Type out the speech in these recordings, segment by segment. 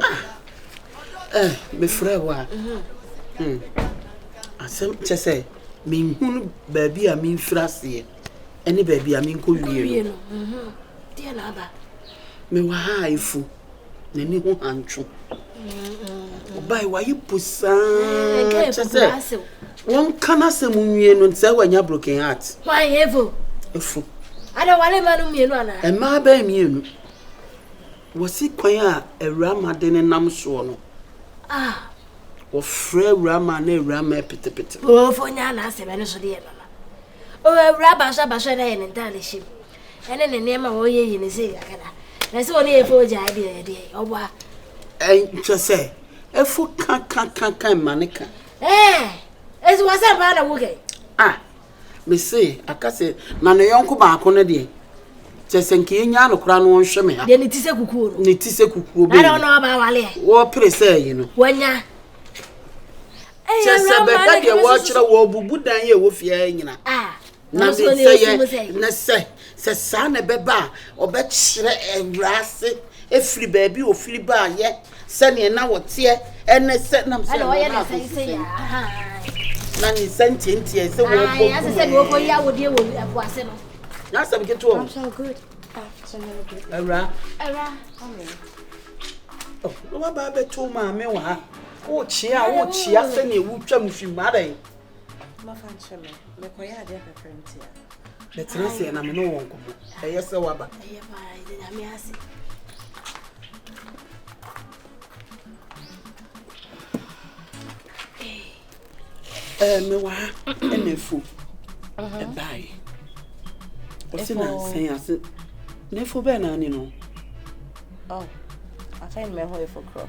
ah eh mefrɛ wo a hmm asɛm kyɛ sɛ menhunu baabi a memfiri aseɛ ɛne baabi a menkɔ wie no mewɔ ha a ɛfu n'ani ho hantwo ɔbae wayɛ po saa kyɛ sɛ wɔnka no asɛm nwie no sɛ wanya broken heart ɛfu ɛmaa bɛɛ mmienu Wɔsi kwan a awurama de ne nam soɔ no. A. Wɔfrɛ awurama na awurama apetepete no. Oofo nyɛ a n'asɛm ɛno so de yɛ nana. O awuraba nso aba so ɛna yɛ ne ntaade hyɛ mu. Ɛne ne nneɛma a ɔyɛ yi ne se kakada. Na sɛ ɔne efo gya ɛde ɛyɛ deɛ ɔbɔ a. Ɛnkyɛ sɛ efo ka ka ka ka mma ne ka. Ɛɛ. Esi wɔ sɛ mpaa na wo kɛ. A. Mese, aka sɛ, na ne yɔnko baako no deɛ, kyɛ sɛ nka yɛnyaa no koraa na ɔnhwɛ me ha. Deɛ ne ti sɛ kukuo no. Ne ti sɛ kukuo bɛyi. Na ɔno ɔba awaleɛ. Wɔpere sɛ ayi no. Wɔnya. Kyɛ sɛ bɛka deɛ wɔkyerɛ wɔbubu dan yi a ɛwɔ fie ha nyina. Na mesɛ yɛ na sɛ sɛ saa na ɛbɛba a ɔbɛkyerɛ awura ase ɛfiri baabi ɔfiri baayɛ. Sɛdeɛ na wɔteɛ ne sɛ nam sɛ ɛno na akɔsusɛm, na ne nsa ntiantiae sɛ wɔbɔkumɛɛ. N'asɛm ketewa o. Awura. Oh, na waba abɛto maame wɔ ha. Wokyea, wokyea sɛdeɛ wotwam fi mu adɛn? bɛtena aseɛ na me ne wɔn nkɔmmɔ ɛyɛ sɛ waba mewɔ ha ɛna afu ɛbae ɔse nansɛn ase na afu bɛɛ naa ne no afei mmɛho afu korɔ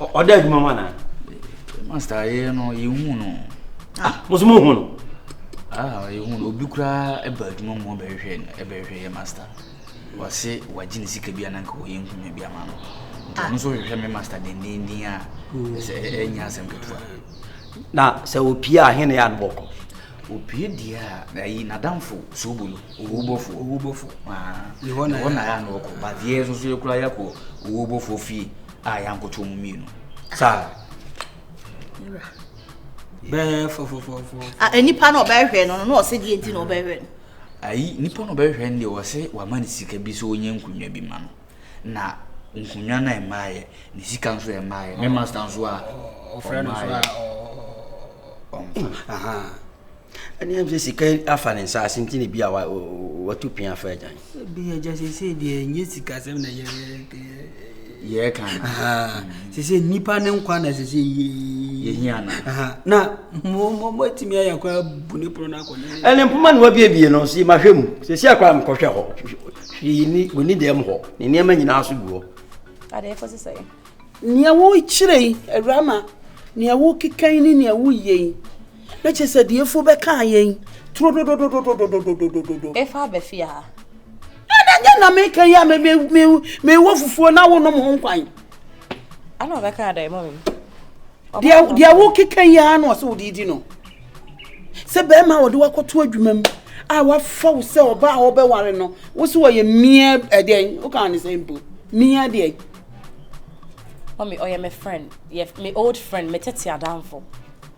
ɔda adwuma mu anaa master yɛ no yɛhu no ah, mo so mohu no ah, yɛhu no obi koraa ɛba adwuma mu ɔbɛhwehwɛ ɛbɛhwehwɛ yɛ master wɔse wagye ne sika bi ananka wɔyɛ nkuma bi ama no nti ɔno nso hwehwɛ me master dendenden a sɛ ɛnyɛ asɛm ketewa na sɛ opie a hene yɛ anobɔkɔ opie deɛ a ayi nadamfo sobolo owubɔfo owubɔfo ɛhɔ na ɛhɔ na yɛ ano ɔkɔ but yɛ nso so yɛ kura yɛ kɔ owubɔfo fie a yɛ ankoto mu mmienu saa. bɛɛ fɔfɔfɔfɔ. nipa na ɔbɛhwɛ no na ɔsɛ deɛ nti na ɔbɛhwɛ no. ayi nipa na ɔbɛhwɛ no deɛ ɔsɛ wama ne sika bi sɛ ɔnyɛ nkonnwa bi ma no na nkonnwa no ɛmaayɛ ne sika nso ɛmaayɛ ne masta nso a ɔfrɛ no nso a ɔmfa. Ɛnneɛ ɛm sɛ sika afa ne nsaase nti na bi a watu pin afa agyan. Ebi agya sese deɛ ɛnyɛ sika sɛm na yɛ yɛ kan. Sese nipa ne nkwa na sese yie. Yehia na. Na mo mo mo etimi ayɛ kora bu ne pono n'akɔ ne. Ɛne mpoma na wabiebie no si ma hwɛ mu sese akora mo kɔhwɛ hɔ hwii ni wɔ ni dɛm hɔ ne nneɛma nyinaa so gu hɔ. Adeɛ kɔ sisa yi. Nea wokyerɛ yi awurama nea wokeka yi ne nea woyɛ yi Na kyerɛ sɛ deɛ afuo bɛkaa yɛn turo dodododododododododo. Efa aba fie ha. Ɛna nyɛ na meka yi a me me me mewɔ fufuo na wonom ho nkwan. Ɛna ɔbɛka dɛ mɔ mi. Deɛ deɛ wokeka yi ara na ɔsɛ wode di no. Sɛ bɛrima a wɔde wakɔto adwuma mu a wafa wo sɛ ɔbaa a wɔbɛware no wo so wɔyɛ mmea ɛdɛn woka ne sɛ mpo mmea deɛ. Mami ɔyɛ me friend yɛ me old friend me tete adamfo.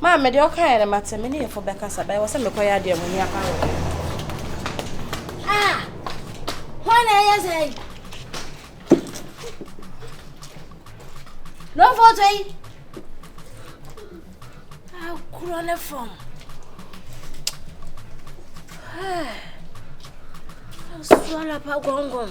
Maame, deɛ wokaeɛ no mate, me ne yefo bɛkasa, bɛyɛ wɔ sɛ mekɔyɛ adeɛ a m'ani apa wɔ ho. Ah! Hwan na ɛyɛ sɛ yi? No photo yi! Akorɔ ne fam. Hey! Asuala pa gɔngɔn.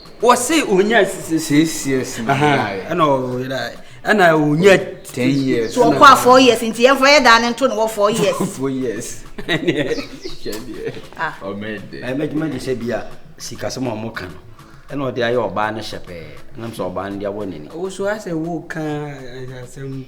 wɔse ɔnya six years na ɔyeraeɛ ɛna ɔyeraeɛ ɛna ɔnya ten years so ɔkɔ a four years nti yɛmfa yɛ daa ne nto ne wɔ four years four years mɛgyima gye sɛ bia sikasɛm a ɔmo ka no ɛna ɔde ayɛ ɔbaa no hyɛ pɛɛ nam sɛ ɔbaa no de awɔ n'ani ɔwoso asɛ wo ka asɛm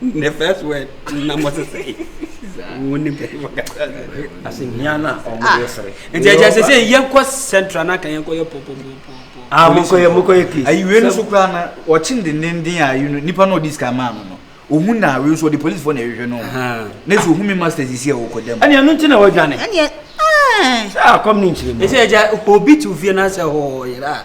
The first word na mo sesɛe wo ne bɛrima kasa asɛmhia no a ɔmo yɛ sere nti ɛkyɛ sɛ sɛ yɛnkɔ central na ka yɛnkɔ yɛ pɔpɔpɔpɔ ah mokɔ yɛ mokɔ yɛ case ayi wei no so koraa na wɔkye ne denden a yi no nipa na ɔdi sika maa no no ohun na wei nso ɔde polisi fo na ɛhwehwɛ no ne so ohun mi masters yi si a ɔkɔ dɛm ɛni ɛnu ti na ɔdwane ɛni ɛ sɛ akɔm ne nkyerɛ mu ɛsɛ ɛgya obi ti ofie na sɛ ɔyera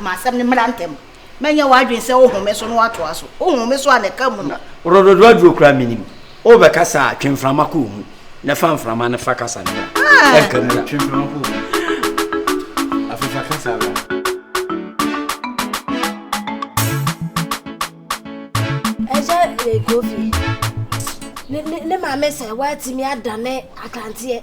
Ma asɛm no mmra ntɛm. Mɛnyɛ w'adwene sɛ wohome so na woatoa so. Wohome so a na ɛka mu no. Worɔ dodoɔ aduro koraa menim. Wobɛ kasa a twe mframa kɔ omu na fa mframa no fa kasa no bra. Ɛnka mu na. Twe mframa kɔ omu. Afei fa kasa bra. Ɛgya yɛ kofi. Ne maame sɛ woatumi adane akranteɛ.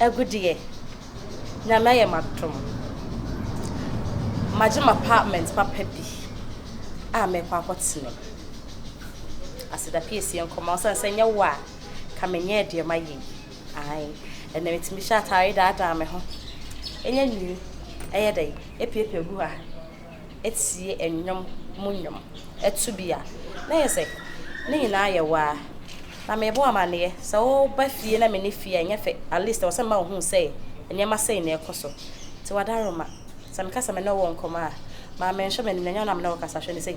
agu deɛ Nyame ayɛ m'adom magye m'apartment papa bi a mɛkɔ akɔ tena mu aseda pii sie nkɔmɔ ɔsan sɛ nyɛ wo a ka menyɛɛ deɛ mayɛ yi ae ɛnna metumi hyɛ ataare daadaa me ho ɛnyɛ nwi ɛyɛ dɛ epiepie gu ha. tie nnwom mu nnwom to bi a, na ayɛ sɛ ne nyinaa yɛ waa. Na mebɔ amanneɛ, sɛ woba fie na menni fie a, ɛnyɛ fɛ. At least ɛwɔ sɛ mema wohu sɛ nneɛma sei na ɛrekɔ so. Nti wɔadaroma. Sɛ meka sɛ me ne wo wɔ nkɔmmɔ a, ma menhwɛ m'anim na ɛnyɛ wo na me ne wo rekasa. Hwɛ no sei.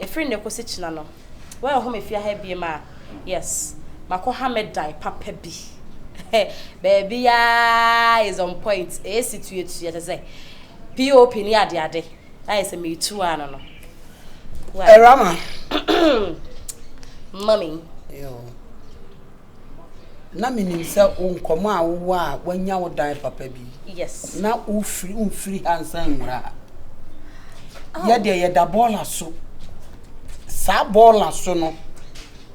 Ɛfiri nnɛ kɔsi kyena no, woanhu me fie ha biem a, yes, makɔha me dan papa bi. Baabiara is on point, AC tuatua te sɛ POP ne adeade. Ayɛ sɛ meretu ara no no. Why? Ɛrama. Mummy. Yo. na menim sɛ wo nkɔmmɔ a wowɔ a woanya wo dan papa bi na wofiri wofiri ha nsan nwura ha oh. yɛ deɛ yɛda bɔɔla so saa bɔɔla so no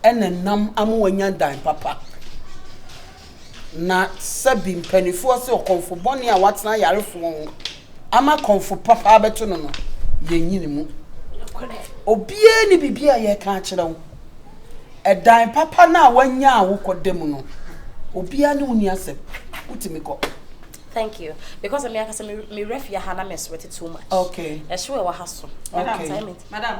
ɛna nam ama wanya dan papa na sɛbi mpanimfoɔ sɛ ɔkɔmfo bɔne a watena ayarefoɔ ho ama kɔmfo papa abɛto no no, yɛnyi ne mu. Obiara nni biribi a yɛreka akyerɛ wo. Ɛdan papa no a woanya a wokɔda mu no, obiara ne wo nni asɛm. Wotumi kɔ. Thank you. Because me ankasa me werɛ fia ha na me sweat too much. Okay. Ɛhyew ɛwɔ ha so. Okay. Madam,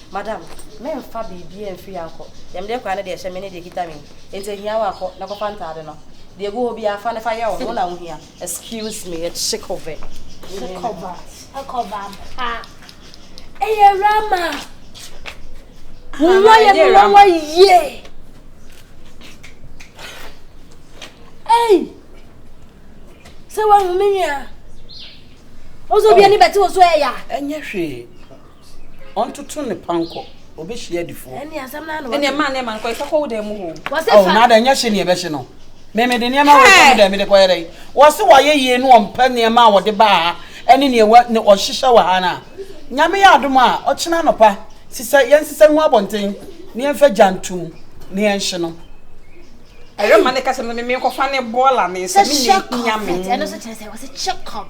Madam, memmfa biribiara mfiri ha nkɔ. Deɛ mede rekɔ ha ne deɛ ɛhyɛ me ne deɛ ɛkita me yi. Enti ɛhia wo a, kɔ na kɔfa ntaade no. Deɛ ɛgu hɔ biara, fa no fa yɛ wo ho, wo na wohia. Excuse me, yɛ Chikove. Chikova, Chikova ampa. Ɛyɛ Rama. Wowɔ yɛ me wɔwɔ yie. Ei! Sɛ woahu me nua. Wo nso obi ani bɛte wo so ɛya. Ɛnyɛ hwee. Ɔntoto ne pankɔ, ɔbɛhyia adifoɔ. Ɛne asɛm no ano. Ɛne ɛma ne ɛma nkɔ ɛsɛ kɔ wo dan mu hoo. Wɔse fa. Ɔ na ada nyɛ hye ne ɛbɛhye no. Me me de nneɛma wei kɔ me dan me de kɔ yɛ dɛn. Wɔse wɔayɛ yie ne wɔmpɛ nneɛma a wɔde baa ha ɛne neɛ wɔ ne ɔhyehyɛ wɔ ha no a. Nyame yɛ adom a ɔkyena anɔpa sesɛ yɛn sesɛ ngu abɔnten ne yɛn fa gya ntom ne yɛn hye no. Ɛyɛ ma ne kasa no me me nkɔ fa ne bɔɔla ne nsa me ne Nyame. Ɛno so kyerɛ sɛ wɔse check up.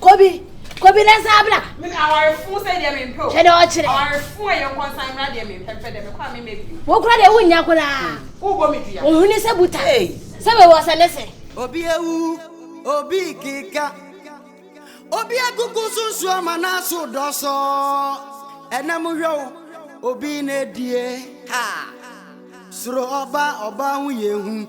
Kobi, Kobi ne nsa abra. Me me awarefo sɛ deɛ me mpɛ o. Hwɛ deɛ ɔkyerɛ. Awarefo a yɛn kɔ nsan mmra deɛ me mpɛ mpɛ deɛ me kɔ a me mɛ bio. Wo kora deɛ wo nya koraa. Wo bɔ me dua. Wo huni sɛ buta. Hey. Sɛ wei wɔ sɛ ne sɛ. Obi awu, obi keka. Obi akuku so nsuo ama n'aso dɔsɔ. Ɛnɛ mo hwɛ o, obi na edie ha. Soro ɔba, ɔba ho yɛ hu.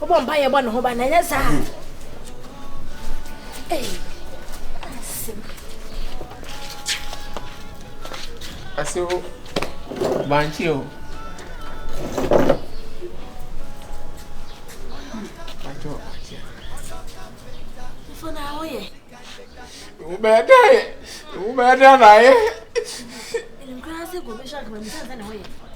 Wobɔ mpa yɛ bɔ ne ho ba na ɛnyɛ saa. Ase hɔ bankye o. Bankye o. Fona awo yɛ. Wobɛyɛ dɛ ayɛ. Wobɛyɛ dɛ na ayɛ.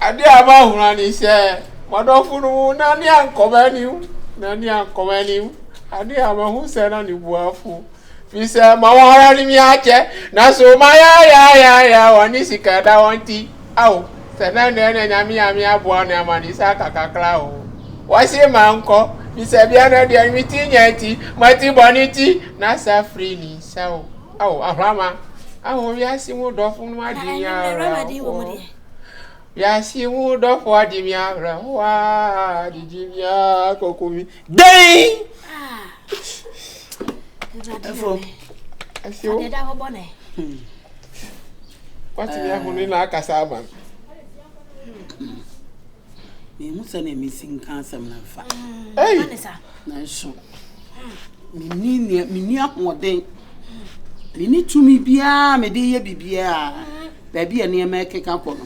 Ade a ɛma ahora ne sɛ m'adɔfo no mu na ne ankɔma anim na ne ankɔma anim ade a mahu sɛ na ne buafo fi sɛ ma wɔn ara ne me akyɛ nanso mayayayaya wɔn ne sika da wɔn ti Ao, sɛ na nea na Nyame a me aboa no ama no yi sɛ aka kakra o, wɔse mankɔ, me sabea no deɛ no mete nya nti, mate bɔne nti, na sa firi ne nsa o. Ao, Ahlama, ao wiase mu dɔfo no adi me awerɛhoɔ, wiase mu dɔfo adi me awerɛhoɔ aa, gyigyi me aa, kɔku me. dɛn ɛfo ɛfo ɛda hɔ bɔne watumi ahone na akasa ama no mehu sɛ na mesi nka asɛm no mfa nanso menni ahoɔden menni tumi biara mede yɛ biribiara baabi a nneɛma ɛkeka kɔ no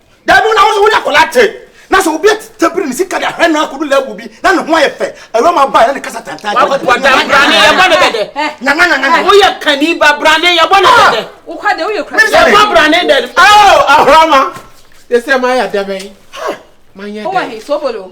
dabi wona wo ne akwadaa te na sɛ obi atete bere ne sika de ahwɛ no akɔdu level bi na ne ho ayɛ fɛ awura ma baa na ne kasa tantan brane yɛbɔ ne dɛdɛ woyɛ kani ba brane yɛbɔ ne dɛdɛ yɛbɔ brane dɛdɛ ahorama yɛsɛ ma yɛ dɛbɛn ma yɛ dɛdɛ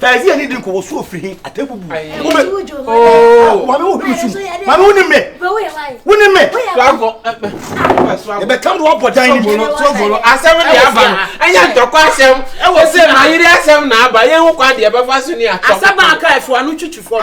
Fɛzi ani din ko wo so ofiri hin ate bubu. Wo me oh wa me wo hunu sum. Ma me woni me. Woni me. Lago. E be kam do wa bɔ dan ni. So bolo asem de aba no. Anya ntɔkwa asem. E wo se ma yiri asem na aba. Ye ho kwa de e be fa so ni atɔ. Asaba aka e fo anu twitwi fo.